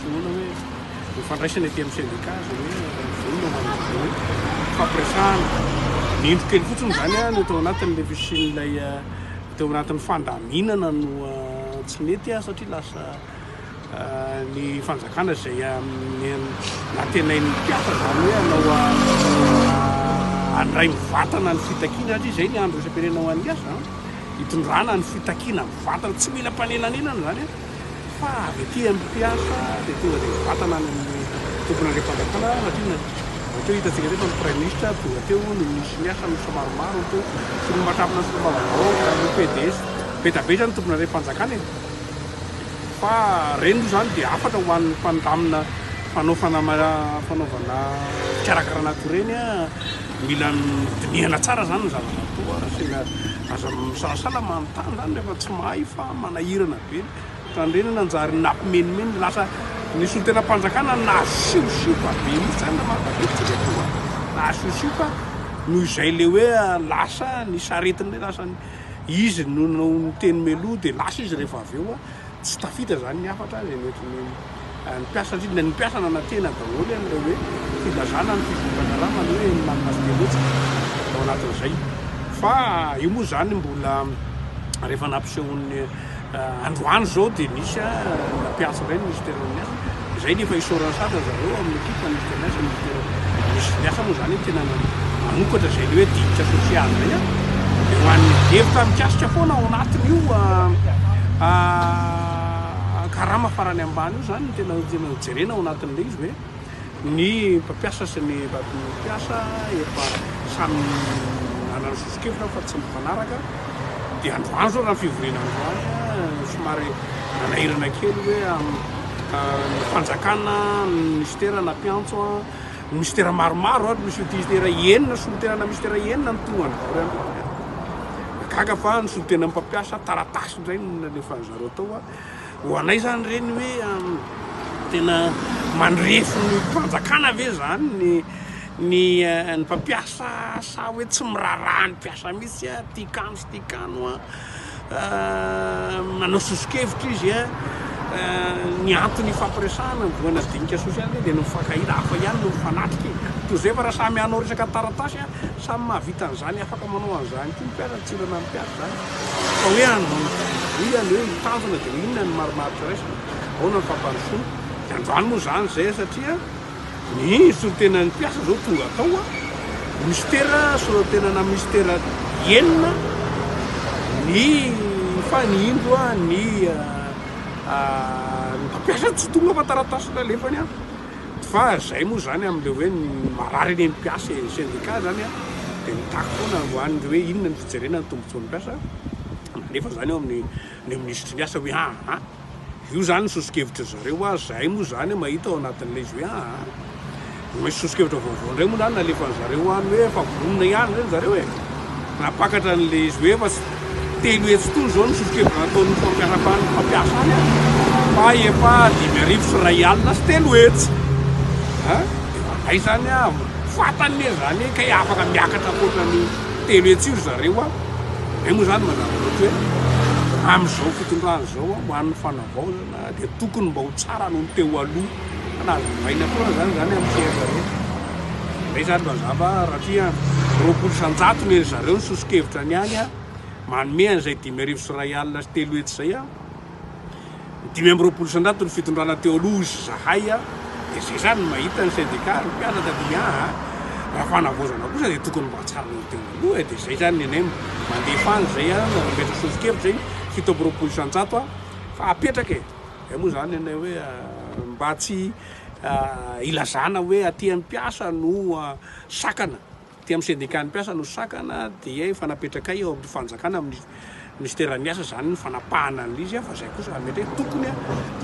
Finoana hoe ho fandraisana ety amin'ny sendikà izay hoe vonona ho amin'izay hoe fampiresahana. Ny indro kely fotsiny izany no tao anatin'ilay fisian'ilay teo anatin'ny fandaminana no tsy nety satria lasa ny fanjakana izay nantenain'ny mpiasa izany hoe hanao handray mivatana ny fitakiana satria izay ny andro isam-pirenena ho an'ny asa hitondrana ny fitakiana mivatana tsy mila mpanelanelana izany Fa avy aty amin'ny mpiasa dia tonga dia mivantana any amin'ny tompon'andriampanjakana satria na ohatra hoe hitantsika indray fa ny praiminisitra tonga teo, ny minisitry ny asa minisitra maromaro teo sy ny mahatrapana ny solombavambahoaka, ny PDS, be da be izany ny tompon'andriampanjakana e! Fa ireny moa izany dia hafatra ho an'ny mpandamina mpanao fanama, fanaovana fikarakarana akoa ireny a! Mila dinihana tsara izany ny zava-bato a! Sendra aza misalasala manontany izany rehefa tsy mahay fa Manahirana be ny fandrenana anjary nampimenimeny lasa ny solontenam-panjakana nasiosipa be mihitsy zany raha mahatadidy tsika eto nasiosipa noho izay ilay hoe lasa ny saretiny ilay lasa ny izy no niteny meloa dia lasa izy rehefa avy eo tsy tafita zany ny hafatra izay noentin'ny Ny mpiasa indrindra ny mpiasa nanantena daholo an'ilay hoe filazana ny fizonganarama ny hoe ny manana fieletsaka ao anatin'izay fa io moa izany mbola rehefa nampisehoan'ny androany izao dia nisy mpiantso indray ny ministeran'ny asa izay nefa isaoran'ny satra zareo amin'ny ekipa ny ministeran'ny asa ministera ny asa moa izany tena manokatra izay ny hoe diditra sosialy izay a dia ho an'ny hevitra mikasika foana ao anatin'io karama farany ambany io zany no tena tena jerena ao anatin'ilay izy hoe ny mpampiasa sy ny mpampiasa efa samy anany sosokevitra fa tsy mifanaraka dia androany zao raha fivoriana androany somary nanahirana kely hoe ny fanjakana ministera na mpiantso a ministera maromaro ohatra misy ministera enina solontenana ministera enina ny tonga androany gaga fa ny solontenan'ny mpampiasa taratasy Indray no nalefan'ny zareo tao a! Ho anay zany ireny hoe tena mandrefy ny fanjakana ve zany ny ny ny mpampiasa sa hoe tsy miraharaha ny mpiasa mihitsy a! Tika any sy tika any hoa manao soso-kevitra izy a! Ny antony ifampiresahana ny voana dinika sosialy ve dia ny mifankahita hafa ihany no mifanatrika e! Toy izay fa raha samy hanao resaka taratasy a! Samy mahavita an'izany afaka manao an'izany koa ny mpiasa tsy ilaina ny mpiasa zany. Fa hoe androany fidiana izany hoe mitazana dia inona ny marimaritra raisina? Ahoana ny fampandrosoana? Dia androany moa izany izay satria ny soritena ny mpiasa izao tonga tao a! Mistera soritena na mistera enina ny fa ny indro a ny ny mpampiasa tsy tonga fa taratasy nalefany a! Fa izay moa izany amin'ilay hoe ny marary eny amin'ny mpiasa e! Ny sendika izany a dia mitaky foana androany hoe inona ny Jerena ny tombotsoan'ny mpiasa, nalefa izany eo amin'ny ny minisitry ny asa hoe aa, io izany ny soso-kevitry zareo a, zahay moa izany mahita ao anatin'ilay izy hoe aa, misy soso-kevitra vaovao indray moa izany nalefan'ny zareo any hoe efa vonona ihany ve ny zareo e, nampakatra an'ilay izy hoe efa telo hetsy tony izao ny soso-kevitra nataon'ny fampiasam-pan'ny mpampiasa any a, fa efa dimy arivo sy iray alina sy telo hetsy a, dia izany izany a, fantany ne izany e, kay afaka miakatra ankoatra ny. telo hetsy io ry zareo a, zay moa zany mazava loatra hoe amin'izao fitondrana izao a, ho an'ny fanavaozana dia tokony mba ho tsara noho ny teo aloha, fa na azovaina foana zany zany amin'ny fiainan'ny zareo, zay zany mazava rahatria roapolo isan-jato ny an'izareo ny soso-kevitra ny any a, manome an'izay dimy arivo sy iray alina sy telo hetsy zay a. Dimy amby roapolo isan-jato ny fitondrana teo aloha hoy izahay a! Dia zay zany mahita ny sendika ry mpianatra dia aa! Raha fanavaozana kosa dia tokony mba hatsarana ny teo aloha e! Dia zay zany ny anay mandefa any zay a! Manmetra soso-kevitra zay fito amby roapolo isan-jato a! Fa apetraka e! Zay moa zany ny anay hoe mba tsy ilazana hoe aty amin'ny mpiasa no sakana. Ety amin'ny sendikan'ny mpiasa no sakana dia efa napetrakay eo amin'ny fanjakana amin'ny minisiteran'ny asa izany ny fanapahana an'ilay izy fa izay kosa mety hoe tokony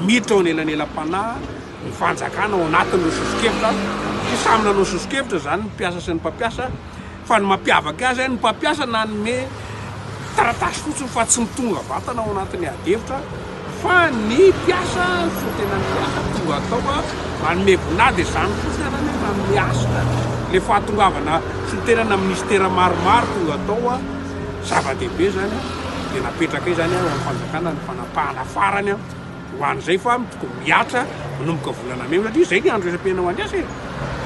miditra ao anelanelam-panahy ny fanjakana ao anatin'ireo sosokevitra sy samy nanao sosokevitra izany ny mpiasa sy ny mpampiasa fa ny mampiavaka azy ny mpampiasa nanome taratasy fotsiny fa tsy mitonga vatana ao anatin'ny adihevitra Fa ny mpiasa no tena miaha tonga tao a, manome vinade izany fotsiny ary anie manome hasina le fahatongavana solontenana minisitera maromaro tonga tao a, zava-dehibe izany a, dia napetraka eo izany a eo amin'ny fanjakana ny fanapahana farany a ho an'izay fa tokony mihatra manomboka volana mey satria izay ny andro isam-pirenena ho an'ny asa e,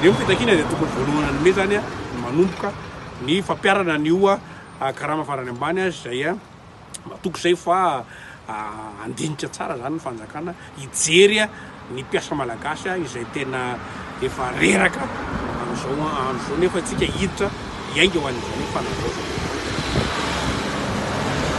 eo ny fitakiana dia tokony voalohanan'ny mey izany a no manomboka ny fampiharana ny oa karama farany ambany a izay a. matoky izay fa handinika tsara izany ny fanjakana, hijery ny mpiasa malagasy izay tena efa reraka amin'izao andro izao nefa antsika hiditra hiainga ho an'izany fanavaozana.